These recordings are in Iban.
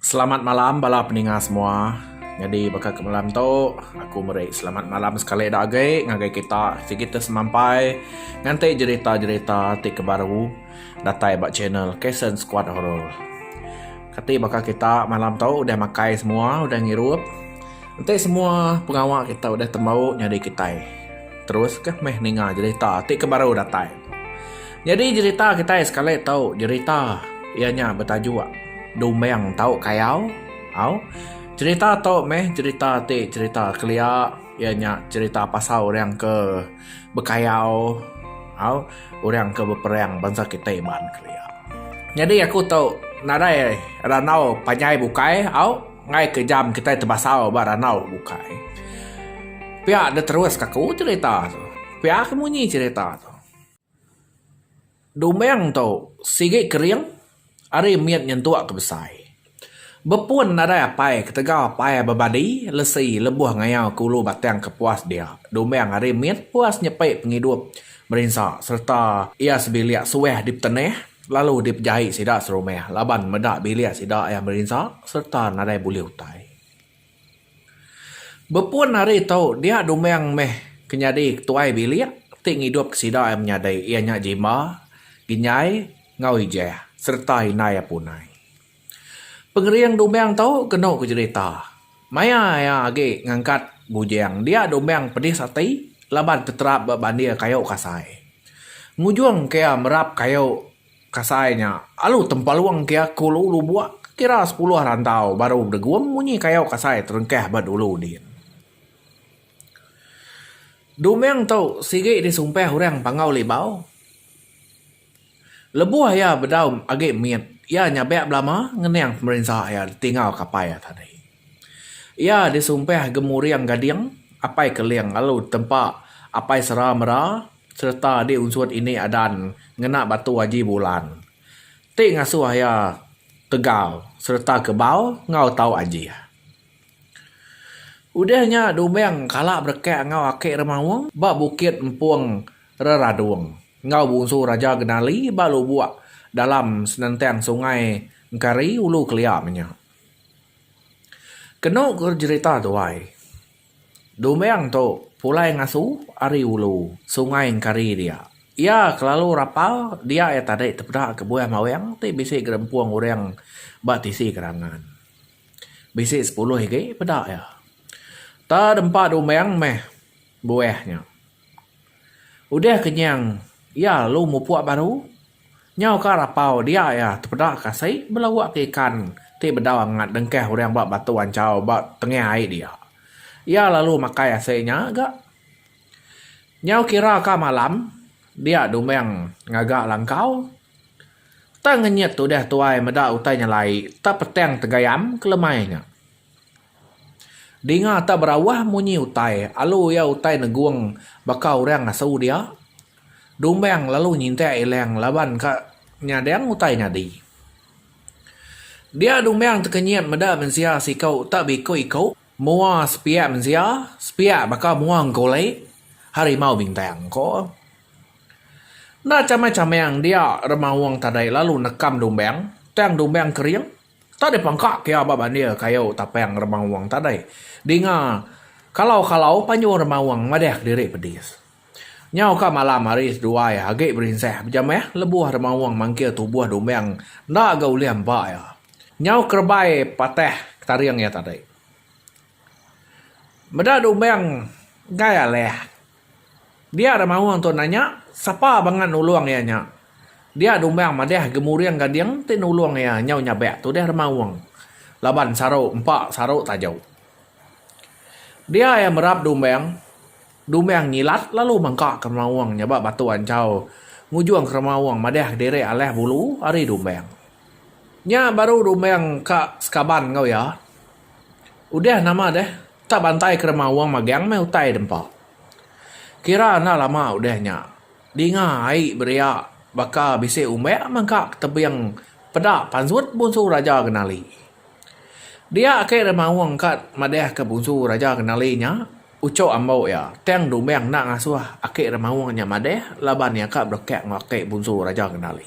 Selamat malam bala peninga semua. Nyadi baka ke malam tu aku meri selamat malam sekali dak agi ngagai kita sigi ti semampai nganti jerita-jerita ti ke baru datai ba channel Kasen Skuad Horor. Kati baka kita malam tu udah makai semua udah ngirup. Enti semua pengawa kita udah tembu nyadi kitai terus kah meh ninga jerita ti ke baru datai. Nyadi jerita kitai sekali tu jerita iya nya betajuk Dumeng Tau Kayau. Au. Jerita tu meh jerita ti jerita kelia iya nya jerita pasal orang ke bekayau au orang ke beperang bansa kitai baan kelia. Nyadi aku tu nadai randau panjai bukai au ngai ke jam kitai tebasau ba randau bukai. Pia diteruska ku jerita tu. Pia ke munyi jerita tu. Dumang tu sigi kering ari mit nyentuk ke besai. Bepun nadai apai ketegal apai bebadi lesi lebuh ngayau ke ulu batang ke puas dia. Dumang ari mit puas nyepi pengidup merinsa sereta iya sebilik suah dipetenah lalu dipejai sida serumah laban meda bilik sida iya merinsa sereta nadai bulih utai. Bepun ari tu dia Dumang meh ke nyadi ketuai bilik ti ngidup ke sida iya menyadi iya nya Jimba, Ginyai enggau Ijah sereta indai iya Punai. Pengering Dumang tu kenu ku jerita maya iya agi ngangkat bujang dia Dumang pedis ati laban teterap ba bandir kayu kasai ngujung ke iya merap kayu. Kasai nya, alu tempalung ke aku lu lu buak ke kira sepuluh rantau baru bedegum munyi kayau kasai terengkah ba dulu din. Duming tu sigi disumpah orang Panggau Libau. Lebuh iya bedau agi mit, iya nyabak belama ngenang pemerinsa iya ditingau kapai iya tadi. Iya disumpah Gemuring Gading, Apai Keling lalu ditempa Apai Sera Mera sereta di unsut ini adan ngena batu Haji Bulan ti ngasuh iya tegal sereta kebal enggau tau ajih. Udah nya Duming kala berekak enggau Aki Remaung ba Bukit Empung Reradung enggau Bungsu Raja Genali ba lubuk dalam senentang Sungai Engkari, Ulu Kelia menya. Kenu ku jerita tuai. Duming tu pulai ngasu ari ulu Sungai Engkari dia. Iya kelalu rapal dia iya tadi tepeda kebuah mawing ti bisi gerempung orang ba tisi kerangan. Bisi sepuluh agi peda iya. Tang dempa Duming meh buah nya. Udah kenyang iya lalu mupuk baru. Nyau ka rapau dia iya tepeda kasi belawa ke ikan ti bedau angat dengkah orang ba batu anchau ba tengah ai dia. Iya lalu makai asi nya ga. Nyau kira ka malam dia dumang ngaga langkau tang ngenyit udah tuai meda utai nyelai tepetang tegayam kelemai nya. Dinga tak berawah munyi utai alu iya utai negung baka urang asu dia. Dumbang lalu nyintak ilang laban ka nyadang utai nyadi. Dia Dumbang tekenyit meda mensia siku tak beiku-iku, mua sepiak mensia, sepiak baka mua engkuli, harimau bintang, ko. Enda chamang-chamang dia remaung tadi lalu nekam Dumbang tang Dumbang kering. Tadi pangka pia ba bandir kayu tapang remaung tadi dinga kalau-kalau panjung remaung madahka diri pedis. Nyau ka malam hari seduai agi berinsah bejamah lebuh remaung mangkir tubuh Dumang enda ga ulih empa iya. Nyau kerebai patah ketaring iya tadi. Meda Dumang enggai alah. Dia da maung tu nanya, Sapa bangat nulung iya nya? Dia dumbang madah gemuring gading ti nulung iya nyau nyabak tudah da maung, laban saru empa saru taja. Dia iya merap dumbang, dumbang ngilat lalu mangkaka maung nya ba batu anchau ngujung kera maung madah diri alah bulu ari dumbang. Nya baru dumbang ka sekaban enggau iya. Udah nama deh. Ka bantai kerema wong magang meh utai dempa. Kira enda lama udah nya, dinga ai beria baka bisi umbak mengka ke tebing peda pansut Bunsu Raja Genali. Dia ake Remaung ka madahka Bunsu Raja Genali nya uchu ambo iya, tang Dumbang enda ngasuh ake Remaung nya madah laban iya ka berekak enggau ake Bunsu Raja Genali.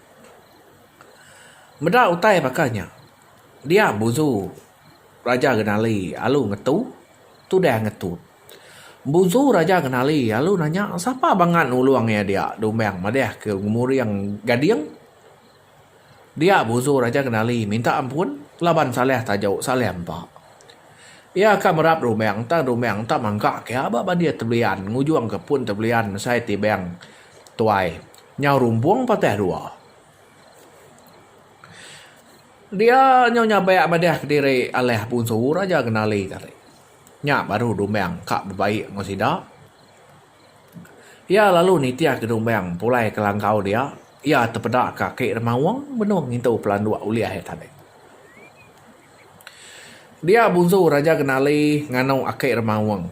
Meda utai baka nya, dia buzu Raja Genali alu ngetu tudah ngetut. Buzu Raja Genali alu nanya sapa bangat nulung iya dia Dumbang madah ke ngemuring Gading. Dia buzu Raja Genali minta ampun laban salah tajuk salah empa. Iya ka merap Dumbang tang Dumbang enda mangkak iya ba bandir Tebelian ngujungka pun Tebelian mesai Tibang. Tuai, nyau rumbung patah dua. Dia nyau nyabak madah kediri alah punsu raja kenali tadi. Nya baru Dumbang ka bebaik enggau sida. Iya lalu nitihka Dumbang pulai ke langkau dia. Iya tepeda ke aki Remaung benung ngintu pelanduk ulih iya tadi. Dia punsu raja kenali nganu aki Remaung.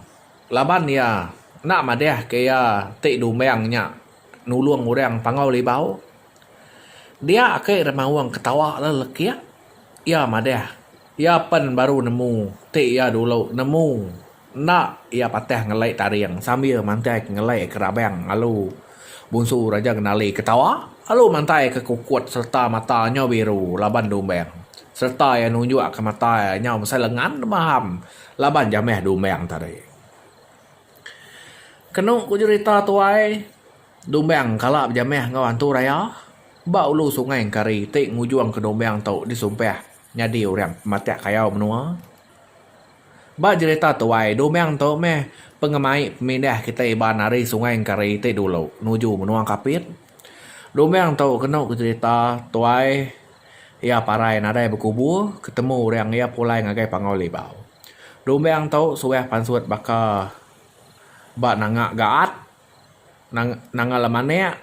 Laban iya enda madahka iya ti dumbang nya nulung orang Pangau Libau. Dia agi remaung ketawa lalu lekik. Iya madah, iya pen baru nemu ti iya dulu nemu enda iya patah ngelai taring sambil mantaika ngelai kerabang lalu Bunsu Raja Genali ketawa lalu mantaika kukut sereta mata nyau biru laban dumbang sereta iya nunjukka mata iya nyau besai lengan nemaham. Laban ja meh Dumbang tadi. Kenu ku jerita tuai, Dumbang kala bejamah enggau Antu Raya ba ulu Sungai Engkari ti ngujung ke Dumbang tu disumpah nyadi orang pematak kayau menua. Ba jerita tuai, Dumbang tu meh pengemai pemindah kitai ba nari Sungai Engkari ti dulu nuju menua Kapit. Lumang tu kenu ku cerita tuai iya parai nadai bekubu ketemu orang iya pulai ngagai Panggau Libau. Lumang tu suah pansut baka ba nanga gaat, nanga lemanek,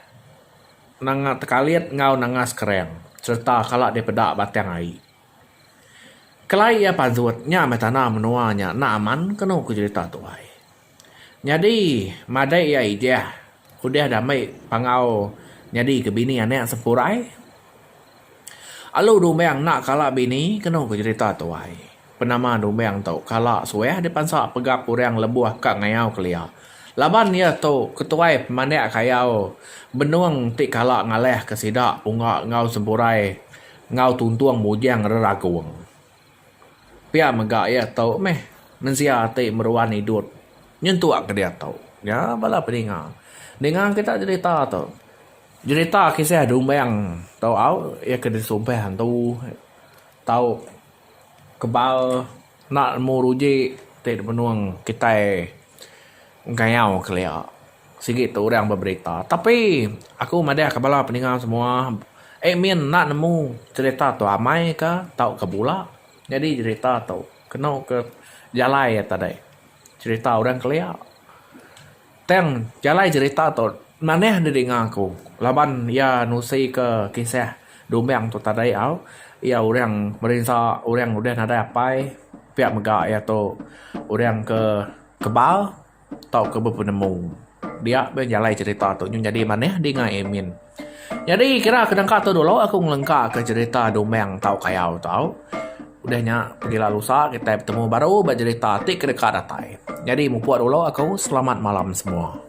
nanga tekalit enggau nanga sekereng sereta kala dipeda batang ai. Kelai iya pansut nya meh tanda menua nya enda aman kenu ku cerita tuai. Nyadi madai iya ijah udah diambi pangau nyadi ke bini anak sepurai. Alu dumbang enda kala bini kenu ke jerita tuai. Penama dumbang tu kala suah dipansa pegap orang lebuh ka ngayau kelia. Laban iya tu ketuai pemandak kayau benung ti kala ngalahka sida punga enggau sepurai enggau tuntung bujang reragung. Pia mega iya tu meh mensia ti meruan idup nyentuk ke diatu nya bala peninga. Ninga kita jerita tu jerita kisah dumbang tu au iya ke disumpah antu tau kebal enda nemu ruji ti dipenung kitai. Ngayau kelia sigi tu orang beberita tapi aku madahka bala peninga semua admin enda nemu cherita tu amai ka tauka bula nyadi cherita tu kenu ke jalai ata deh cherita orang kelia tang jalai cherita tu manah didinga ku laban iya nusi ke kisah dumbang tu tadai au iya orang berinsa orang udah nadai apai pia mega iya tu orang ke Kebal tauka bepenemu. Dia beh jalai cerita tu nyun nyadi manah dinga Amin. Nyadi kira ke nengka tu dulu aku ngelengka ke cerita Dumang tau Kayau tau. Udah nya pegila lusa kitai betemu baru ba cerita ti ke deka datai. Nyadi mupuk dulu aku selamat malam semua.